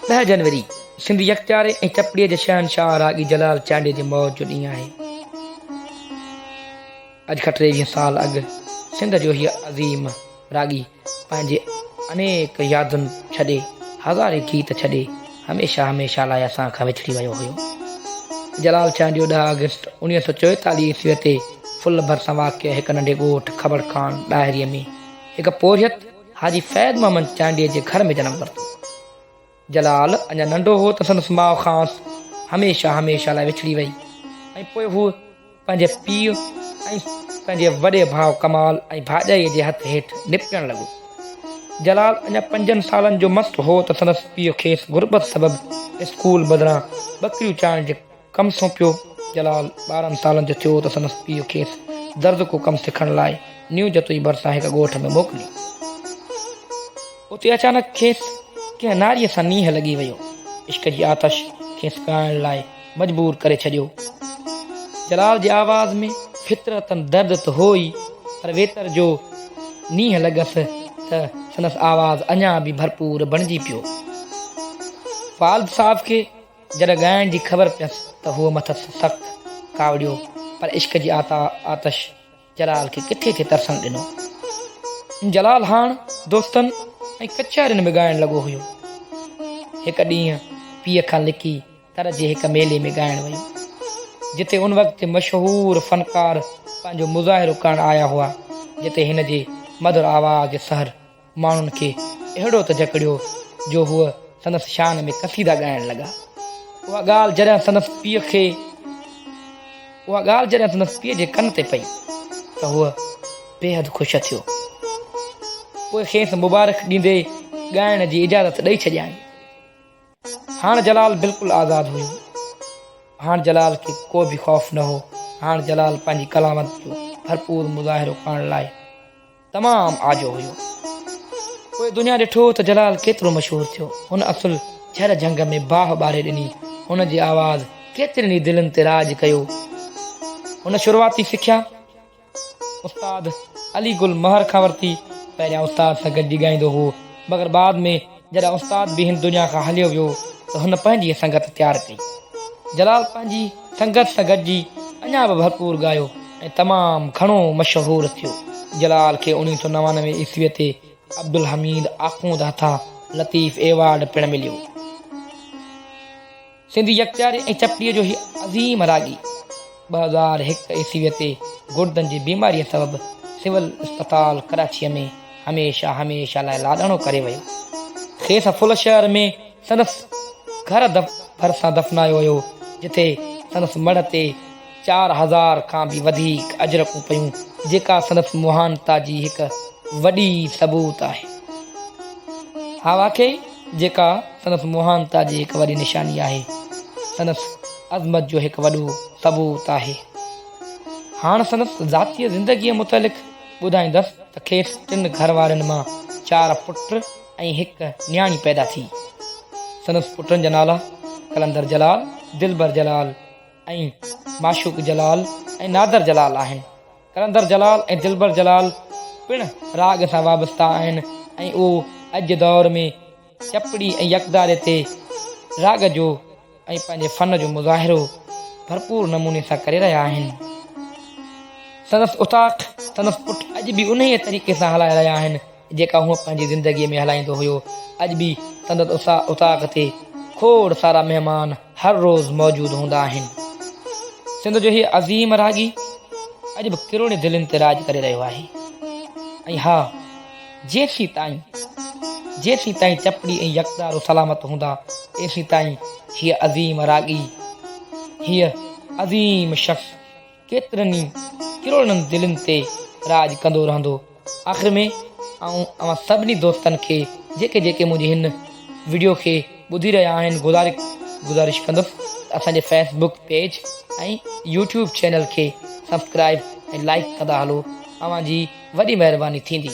ڏهه جنوري سنڌ يڪتياري ۽ چپڙي جي شهنشاهه راڳي جلال چانڊيي جي موت جو ڏينهن آهي. اڄ کان ٽيويهه سال اڳ سنڌ جو هيء عظيم راڳي پنهنجي انيڪ يادن ڇڏي، هزارين گيت ڇڏي هميشه هميشه لاء اسان کان وڇڙي ويو هيو. جلال چانڊيو ڏهه آگسٽ اوڻيهه سؤ چويتاليهه عيسويء تي ڦل ڀرسان واقع هڪ ننڍي ڳوٺ کٻڙ خان ڏاهريء ۾ هڪ پورهيت حاجي فيض محمد چانڊيي جي گهر ۾ جنم ورتو. جلال اڃا ننڍو هو ته سندس ماء کانئس هميشه هميشه لاء وڇڙي وئي ۽ پوء هو پنهنجي پيء ۽ پنهنجي وڏي ڀاء ڪمال ۽ ڀاڄائيء جي هٿ هيٺ نپٽڻ لڳو. جلال اڃا پنجن سالن جو مس هو ته سندس پيء کيس غربت سبب اسڪول بدران ٻڪريون چارڻ جي ڪم سونپيو. جلال ٻارهن سالن جو ٿيو ته سندس پيء کيس درزي ڪو ڪم سکڻ لاء نيو جتوئي ڀرسان هڪ ڳوٺ ۾ موڪلي. اتي اچانڪ کيس ڪنهن ناريء سان نينهن لڳي ويو. عشق جي آتش کيس ڳائڻ لاء مجبور ڪري ڇڏيو. جلال جي آواز ۾ فطرتاً درد ته هو ئي پر ويتر جو نينهن لڳس ته سندس آواز اڃا به ڀرپور بڻجي پيو. والد صاحب کي جڏهن ڳائڻ جي خبر پيس ته هوء مٿس سخت ڪاوڙيو پر عشق جي آتش جلال کي ڪٿي ٿي ترسڻ ڏنو. جلال هاڻ دوستن ۽ ڪچهرين ۾ ڳائڻ لڳو هيو. هڪ ڏينهن پيء کان لڪي تر جي هڪ ميلي ۾ ڳائڻ ويو. جتي ان وقت جي مشهور فنڪار پنهنجو مظاهرو ڪرڻ آيا هئا جتي هن جي مڌر آواز جي سحر ماڻهن کي اهڙو ته جڪڙيو جو هو سندس شان ۾ قصيدا ڳائڻ لڳا. اها ڳالهه جڏهن سندس پيء کي اها ڳالهه جڏهن سندس پيء جي ڪن تي پئي ته هو بيحد خوش ٿيو. پوء کيس مبارڪ ڏيندي ڳائڻ جي اجازت ڏئي ڇڏيائين. هاڻ جلال بلڪل آزاد هيو. هاڻ جلال کي ڪو به خوف نه هو. هاڻ جلال پنهنجي ڪلامت جو ڀرپور مظاهرو ڪرڻ لاء. تمام آجو هيو. پوء دنيا ڏٺو ته جلال ڪيترو مشهور ٿيو. هن اصل جهر جهنگ ۾ باهه ٻاري ڏني. هن جي آواز ڪيترين ئي دلين تي راڄ ڪيو. هن شروعاتي سکيا استاد علي گل مهر کان ورتي. پهريان استاد سان گڏجي ڳائيندو هئو مگر بعد ۾ جڏهن استاد به هن دنيا کان هليو ويو ته هن پنهنجي سنگت تيار ڪئي. جلال پنهنجي سنگت سان گڏجي اڃا به ڀرپور ڳايو ۽ تمام گهڻو مشهور ٿيو. جلال کي اوڻيهه سؤ نوانوي عيسويء تي عبدالحميد آخوند هٿان لطيف ايوارڊ پڻ مليو. سنڌي يڪجاري ۽ چپڙي جو هي عظيم راڳي ٻه هزار هڪ عيسويء تي گڙدن جي بيماريء سبب سول اسپتال ڪراچيء ۾ هميشه هميشه لاء لاڏاڻو ڪري ويو. کيس فل شهر ۾ سندس گهر ڀرسان دفنايو ويو جتي سندس مڙهه تي چار هزار کان به وڌيڪ اجرڪون پيون، جيڪا سندس مهانتا جي هڪ وڏي ثبوت آهي. ها واقعي جيڪا سندس مهانتا جي هڪ وڏي نشاني آهي، سندس عظمت جو هڪ وڏو ثبوت آهي. هاڻ سندس ذاتيء زندگيء متعلق ٻڌائيندس ته کيس ٽن گهر وارين مان چار پٽ ۽ هڪ نياڻي پيدا ٿي. سندس پٽن جا نالا قلندر جلال، دلبر جلال، ۽ معشوق جلال ۽ نادر جلال آهن. قلندر جلال ۽ دلبر جلال پڻ راڳ سان وابسته آهن ۽ اهو اڄ جي دور ۾ چپڙي ۽ يڪتاري تي راڳ جو ۽ پنهنجي فن جو مظاهرو ڀرپور نموني سان ڪري رهيا آهن. سندس اوطاق سندس پٽ اڄ به انهيء طريقي سان هلائي رهيا آهن. جيڪا هو پنهنجي زندگيء ۾ هلائيندو هيو. اڄ به سندس اوطاق تي کوڙ سارا مهمان هر روز موجود هوندا آهن. سنڌ جو هي عظيم راڳي اڄ به ڪروڙين دلين تي راڄ ڪري رهيو آهي. ۽ ها، جيسين تائين جيسين تائين چپڙي ۽ يڪدارو سلامت هوندا، تيسين تائين هيء عظيم راڳي، هيء عظيم شخص، ڪيترن ئي ڪروڙن دلين تي راڄ ڪندو رهندو. آخر ۾ آئون اوهان سڀني دوستن کي جيڪي جيڪي منهنجي هن وڊيو کي ٻڌي رهيا آهن گذارش ڪندس ته اسان جي facebook page ۽ YouTube channel کي سبسڪرائيب ۽ لائيڪ ڪندا هلو اوهان جي وڏي مهرباني ٿيندي.